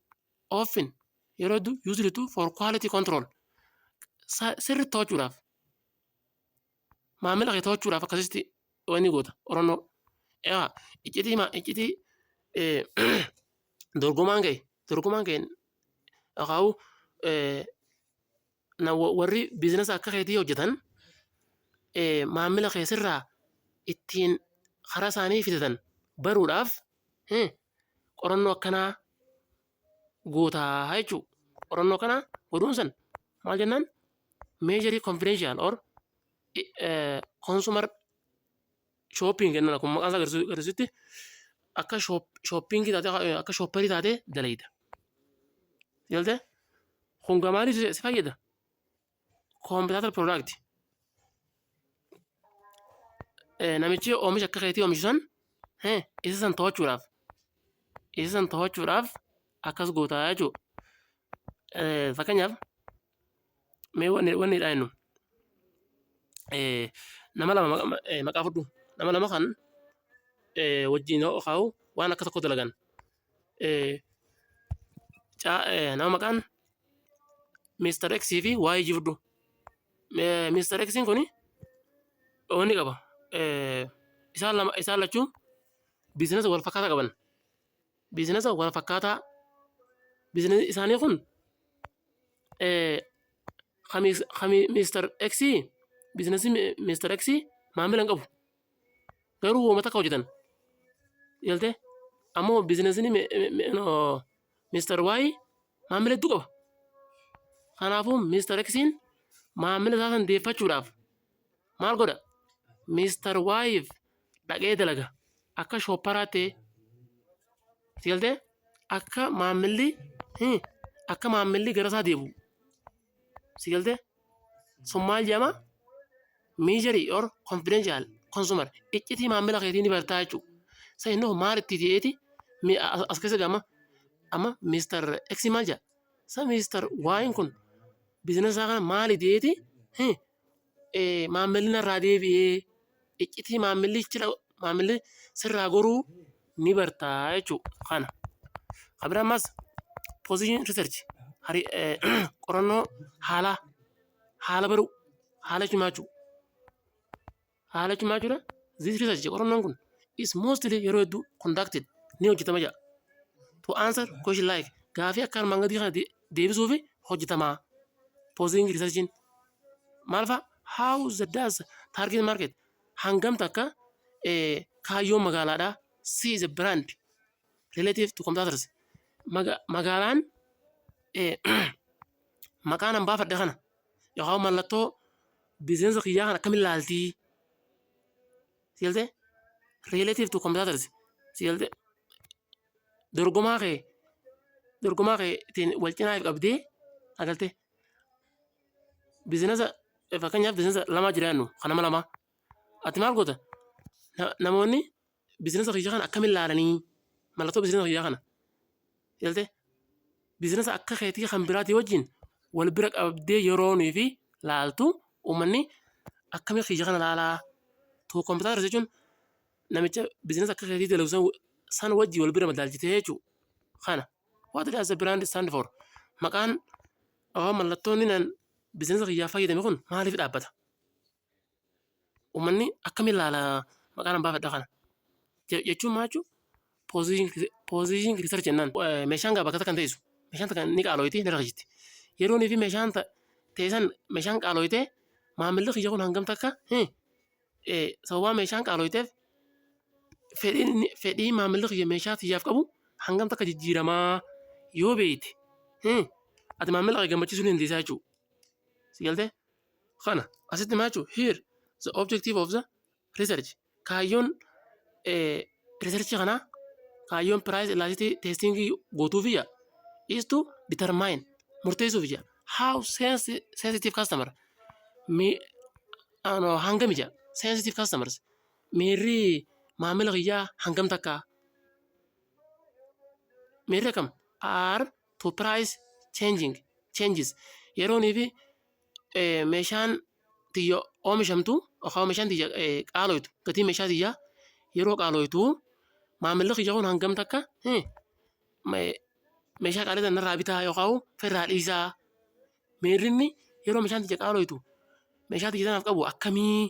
Often yeroo hedduu usually to for quality control Sa- sirri to'achuudhaaf maamila kee to'achuudhaaf akkasitti wanni goota qorannoo egaa iccitii maa iccitii eh, dorgomaan kee dorgomaan kee akaa'u eh, na wa- warri biizinasa akka keetii hojjetan eh, maamila kee sirraa ittiin karaa isaanii fidatan baruudhaaf eh, qorannoo akkanaa guutaa jechuu qorannoo kana godhuun san maal jennaan meejarii konfidenshiyal or konsumer shopping jennaan akkuma maqaan isaa agarsiisu- agarsiisutti akka shoppingii taatee akka shopperii taatee dalayda. Galtee? Kun gamaaliif si fayyada? Koompitaatar piroodakti. Namichi oomisha akka keetii oomishu san isa san to'achuudhaaf isa san to'achuudhaaf akkas goota jechuudha. Fakkeenyaaf mee wanni wanni dhaa jennu nama lama maqaa fudhu nama lama kan wajjin kaa'u waan akka tokko dalagan nama maqaan Mr. X fi waa'ee jibduu. Mr. X kun wanni qaba. Isaan lama isaan lachuu biizinasa wal fakkaataa qaban. Biizinasa wal fakkaataa biizinasi isaanii kun kan Mr. X biizinasi Mr. X maamila hin qabu. Garuu hooma takka hojjetan. Galtee? Ammoo biizinasiin Mr. Y maamila hedduu qaba. Kanaafuu Mr. X'n maamila isaa san deeffachuudhaaf maal godha? Mr. Y'f dhaqee dalaga. Akka shoopparaa ta'ee. Si galtee? Akka maamilli akka maamilli gara isaa deebi'u. si galte sun maal jedhama miijeri or konfidenshal konsumar iccitii maamila keetii ni bartaa jechuudha. Sa inni hoo maal itti ta'eeti mi- as as keessa gama amma miistar eksi maal jedha sa miistar waayin kun biizinasa isaa kana maal ta'eeti maammilli narraa deebi'ee iccitii maammilli ichila maammilli sirraa goruu ni bartaa jechuu kana. Kan biraa ammas position research hari- eh, qorannoo haalaa haala baruu haala himaachuu Haala cimaa jira. This research jedha qorannoon kun is mostly yeroo hedduu conducted ni hojjetama jedha. To answer question like gaafii akka armaan gadii kana de- deebisuuf hojjetama. Posing researchiin maal fa'a? How the does target market hangam takka eh, kaayyoon magaalaadhaa see the brand relative to competitors Maga- magaalaan eh, maqaan hambaafadha kana Yookaan mallattoo biizinasa kiyyaa kan akkamiin laaltii? Si galtee? Relative to competitors. Si galtee? Dorgomaa kee dorgomaa kee ittiin wal cinaa if qabdee haa galtee? Biizinasa fakkeenyaaf biizinasa lamaa jiraannu kan nama lamaa. Ati maal goota? Na- Namoonni bizinasa kiyya kana akkamiin laalanii mallattoo bizinasa kiyyaa kana ilaalte bizinasa akka keetii kan biraatii wajjin wal bira qabdee yeroo nuyi fi laaltu uummanni akkamii kiyya kana laalaa too kompiitara jechuun namicha bizinasa akka keetii dalagu san- san wajjin wal bira madaalchitee jechuudha kana what does the brand stand for maqaan yookaan mallattoon inni bizinasa kiyyaaf fayyadame kun maaliif dhaabbata Uummanni akkami ilaala maqaan abbaa fedha kana? Je- Jechuun maal jechuun position critter jennaan eh, meeshaan gaa bakka takka hin teessu. Meeshaan takka ni qaalooyti ni rakkisitti. Yeroonii fi meeshaan ta- teessan meeshaan qaalooytee maamilli kiyya kun hangam takka eh, eh, sababaa meeshaan qaalooyteef fedhiin inni- fedhii maamilli kiyya meeshaa tiyyaaf qabu hangam takka jijjiiramaa yoo beeyte eh, ati maamila kee gammachiisuu ni dandeessaa jechuudha. Si galtee? kana asitti maal jechuudha? Here the objective of the research kaayyoon research kanaa kaayyoon price elasticity testing gootuuf ija is to determine murteessuuf ija how sensi- sensitive customer mi ano hangam ija sensitive customers miirri maamila kiyyaa hangam takka miirri akkam are to price changing changes yeroonii fi eh, meeshaan tiyya oomishamtu yookaan meeshaan tiyya eh, qaalooytu gatiin meeshaa tiyya yeroo qaalooytu maamilli kiyya kun hangam takka eh, me- meeshaa qaalii sana irraa bitaa yookaan ofirraa dhiisaa miirrinni yeroo meeshaan tiyya qaalooytu meeshaa tiyya sanaaf qabu akkamii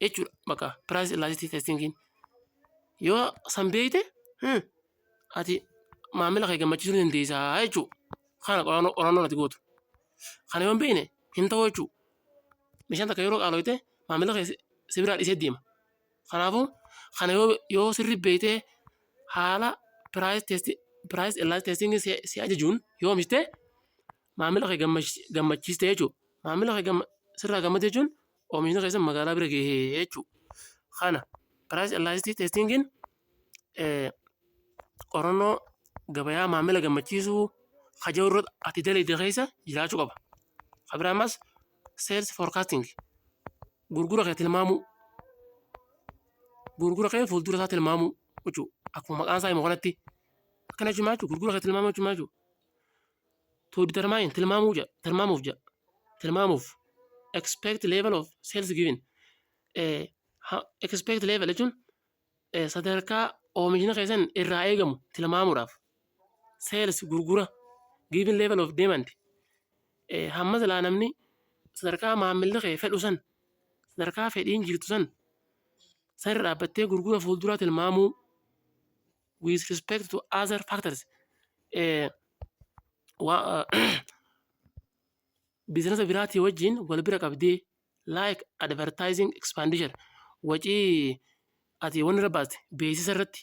jechuudha bakka piraayis illaastitii testingiin yoo san beeyte eh, ati maamila kee gammachiisuu ni dandeessa jechuudha. Kana qorannoo qorannoon ati gootu. Kana yoo hin beekne hin ta'u jechuudha. Meeshaan takka yeroo qaalooyte maamila kee si- si biraa dhisee deema. Kanaafuu kana yoo yoo sirri beektee haala price test price elas testing si si ajajuun yoo oomishte maamila kee gammachi- gammachiiste jechuudha. Maamila kee gamma- sirraa gammade jechuun oomishni keessan magaalaa bira gahee jechuudha. Kana price elasticity testingin qorannoo gabayaa maamila gammachiisuu haja'u irratti ati dalagde keessa jiraachuu qaba. Kan biraa ammas sales forecasting gurgura kee tilmaamuu gurgura kee fuuldura isaa tilmaamuu jechuudha. Akkuma maqaan isaa himu kanatti akkana jechuun maal jechuudha gurgura kee tilmaamuu jechuun maal jechuudha. To determine tilmaamuu jedha tilmaamuuf jedha tilmaamuuf expect level of sales given expect level jechuun Sadarkaa oomishni keessan irraa eegamu tilmaamuudhaaf sales gurgura given level of demand hamma silaa namni sadarkaa maamilli kee fedhu san sadarkaa fedhiin jirtu san sarara dhaabbattee gurgura fuulduraa tilmaamuu with respect to other factors biizinasa biraatii wajjin wal bira qabdee like advertising expenditure wacii ati wanni irra baaste beeksisa irratti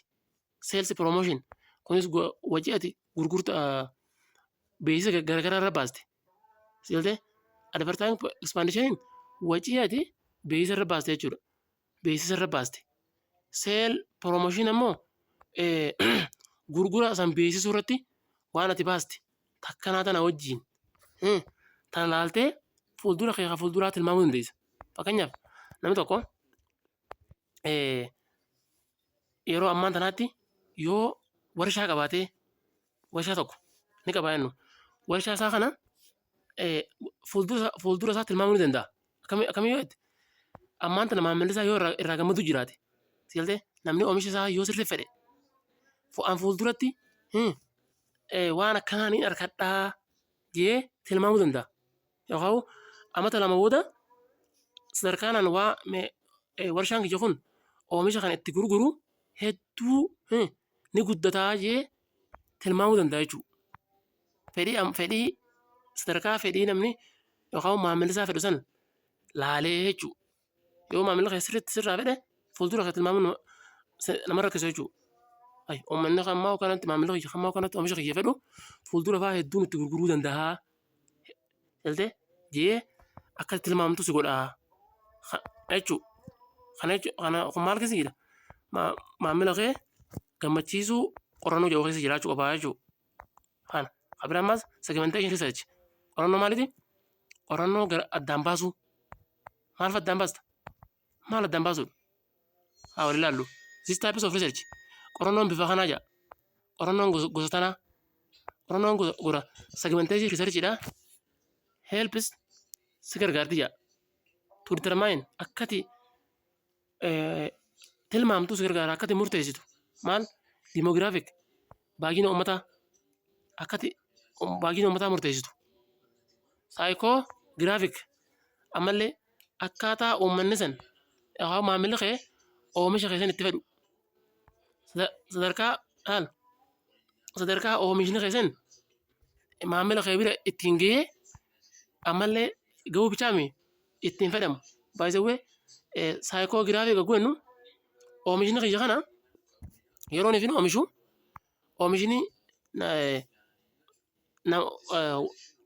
sales promotion kunis go- wacii ati gurgurta beeksisa ga- garaagaraa irra baaste silte advertising expenditure wacii ati beeksisa irra baaste jechuudha beeksisa irra baaste. Seel promotion ammoo gurgura san beeksisuu irratti waan ati baaste takkanaa tana wajjiin tana laaltee fuuldura kee kan fuulduraa tilmaamuu dandeessa. Fakkeenyaaf namni tokko yeroo ammaan tanaatti yoo warshaa qabaatee warshaa tokko ni qaba jennu. Warshaa isaa kana fuuldura isaa tilmaamuu ni danda'a. Akkamii yoo jette ammaan tana maamilli isaa yoo irraa gammadu jiraate seeltee namni oomisha isaa yoo sirrii fedhe fo'aan fuulduratti waan akkanaa ni argadhaa jee tilmaamuu danda'a. yookaan amata lama booda sadarkaanaan waa warshaan kiyya kun oomisha kana itti gurguru hedduu ni guddataa jee tilmaamuu danda'a jechuudha. Fedhii fedhii sadarkaa fedhii namni yookaan maamilli isaa fedhu san laalee jechuudha. Yoo maamilli kee sirriitti sirraa fedhe fuuldura kee tilmaamuun nama rakkisa jechuudha. Ay, uummanni kan ammaa kanatti maamilli kiyya kan ammaa kanatti oomisha kiyya fedhu fuuldura fa'aa hedduun itti gurguruu danda'a. Galtee jee akka tilmaamtu si godha jechuudha. Kana jechuun kana kun maal keessa jira? Maamila kee gammachiisuu qorannoo jedhu keessa jiraachuu qabaa jechuudha. Kana. Abira ammaas segmentation research. Qorannoo maaliiti? Qorannoo gara addaan baasuu. Maal fa addaan baasta? Maal addaan baasuudha? Haa wal ilaallu. This types of research. Qorannoon bifa kanaa jira. Qorannoon gosa gosa tanaa. Qorannoon gosa gora segmentation research dha. Helps si gargaarti jira. To determine akkati tilmaamtu si gargaara akkati murteessitu maal dimoogiraafik baay'ina uummataa akkati baay'ina uummataa murteessitu saayikoo giraafik ammallee akkaataa uummanni san yookaan maamilli kee oomisha kee san itti fedhu sadarkaa haal sadarkaa oomishni kee san maamila kee bira ittiin gahee ammallee gahuu bichaa miti itti hin fedhamu. By the way, saayikoogiraafii gagguu jennu oomishni kiyya kana yeroon ifin oomishu oomishni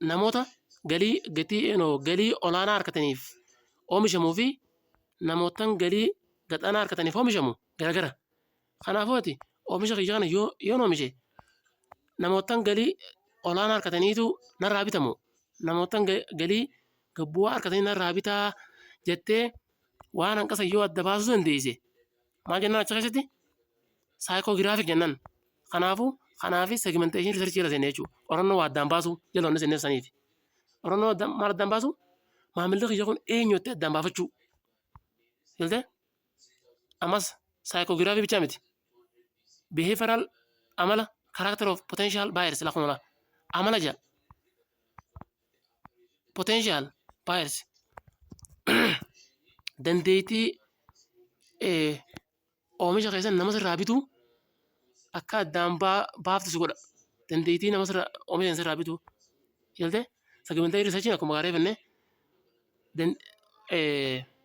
namoota galii gatii galii olaanaa harkataniif oomishamuu fi namootan galii gad aanaa harkataniif oomishamu garagara. Kanaafuu ati oomisha kiyya kana yoo yoon oomishe namoottan galii olaanaa argataniitu narraa bitamu namoottan galii gad bu'aa argatanii narraa bitaa jettee waan hanqa san yoo adda baasuu dandeesse maal jennaan achi keessatti saayikoogiraafik jennaan. Kanaafuu kanaafi segimenteeshinii riisarchii jala seenne jechuudha. Qorannoo waa addaan baasuu jala wanni seenneef saniif. Qorannoo addaan maal addaan baasuu maamilli kiyya kun eenyu jettee addaan baafachuu. Galtee? Ammas saayikoogiraafii bichaa miti. Behavioral amala character of potential buyers lakkoofsa lama. Amala ja'a. Potential buyers dandeettii eh, oomisha keessan nama sirraa bituu akka addaan baa- baaftu si godha. Dandeettii nama sirraa oomisha sirraa bituu. Ilaaltee? Sagimantee risachiin akkuma gaarii jennee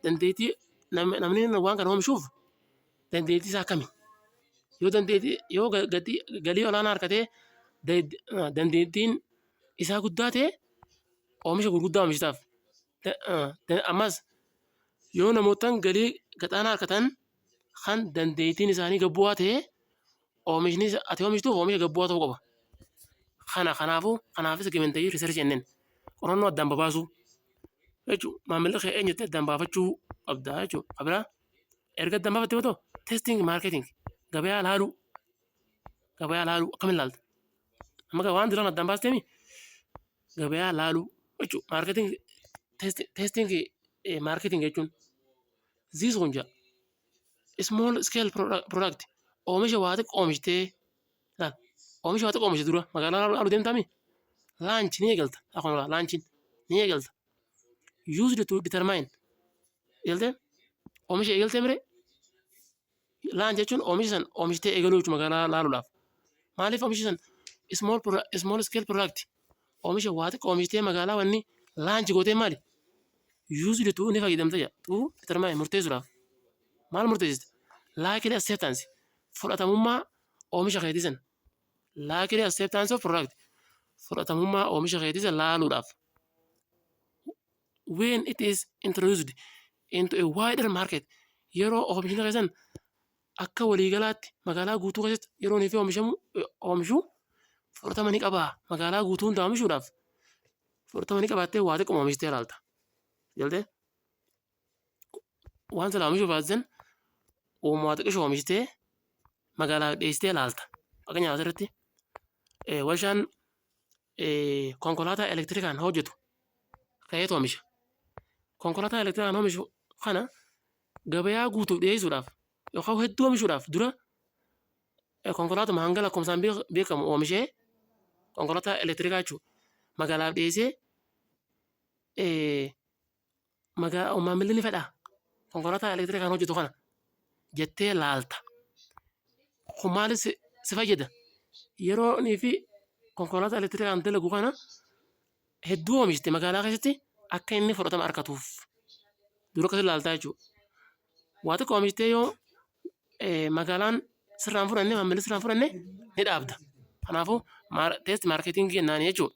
dandeettii namni waan kana oomishuuf dandeettii isaa akkami? Yoo dandeettii yoo gatii galii olaanaa argatee dandeettiin isaa guddaa ta'e oomisha gurguddaa oomishataaf. Ammas yoo namoottan galii gad aanaa argatan kan dandeettiin isaanii gad bu'aa ta'e Oomishni ati oomishtuuf oomisha gabbu'aa ta'uu qaba. Kana kanaafuu kanaaf segmentaayizii riisarchii jenneen qorannoo addaan babaasuu jechuun maamilli kee eenyutti addaan baafachuu qabda jechuudha. Kabiraa erga addaan baafatte booda testing marketing gabayaa laaluu gabayaa laaluu akkamiin laalta? Amma gaa waan duraan addaan baasteemi gabayaa laaluu jechuudha. Marketing testing marketing jechuun ziisuun jaa small scale product oomisha waa xiqqoo oomishtee laal oomisha waa xiqqoo oomishte dura magaalaa laalu deemtaami laanch ni eegalta akkuma laa laanchiin ni eegalta used to determine eegaltee oomisha eegaltee mire laanch jechuun oomisha san oomishtee eegaluu jechuudha magaalaa laaluudhaaf maaliif oomisha san small small scale product Oomisha waa xiqqoo oomishitee magaalaa wanni laanchi gootee maali? Yuuzli tuu ni fayyadamta jedha. Tuu determine murteessuudhaaf. Maal murteessita? Likely acceptance fudhatamummaa oomisha keetii sana. Likely acceptance of product fudhatamummaa oomisha keetii sana laaluudhaaf. When it is introduced into a wider market yeroo oomishni keessan akka walii galaatti magaalaa guutuu keessatti yeroo inni fi oomishamu oomishu fudhatama ni qabaa magaalaa guutuu hundaa oomishuudhaaf fudhatama ni qabaattee waa xiqquma oomishtee ilaalta. Galtee waan silaa oomishuu baasisan uumaa xiqqisho oomishtee magaalaa dhiyeessitee ilaalta. Fakkeenyaaf asirratti warshaan konkolaataa elektirikaan hojjetu ka'eetu oomisha. Konkolaataa elektirikaan oomishu kana gabayaa guutuuf dhiyeessuudhaaf yookaan hedduu oomishuudhaaf dura konkolaatuma hanga lakkoofsaan beekamu oomishee konkolaataa elektirikaa jechuudha. Magaalaaf dhiyeessee maamilli ni fedhaa? Konkolaataa elektirikaan hojjetu kana jettee laalta. Kun maaliif si fayyada? Yeroonii fi konkolaataa elektirikaan dalagu kana hedduu oomishte magaalaa keessatti akka inni fudhatama argatuuf dura akkasii ilaaltaa jechuudha. Waa xiqqoo oomishtee yoo eh, magaalaan sirraan fudhanne maamilli sirraan fudhanne ni dhaabda. Kanaafuu teesti maarkeetingii jennaan jechuudha.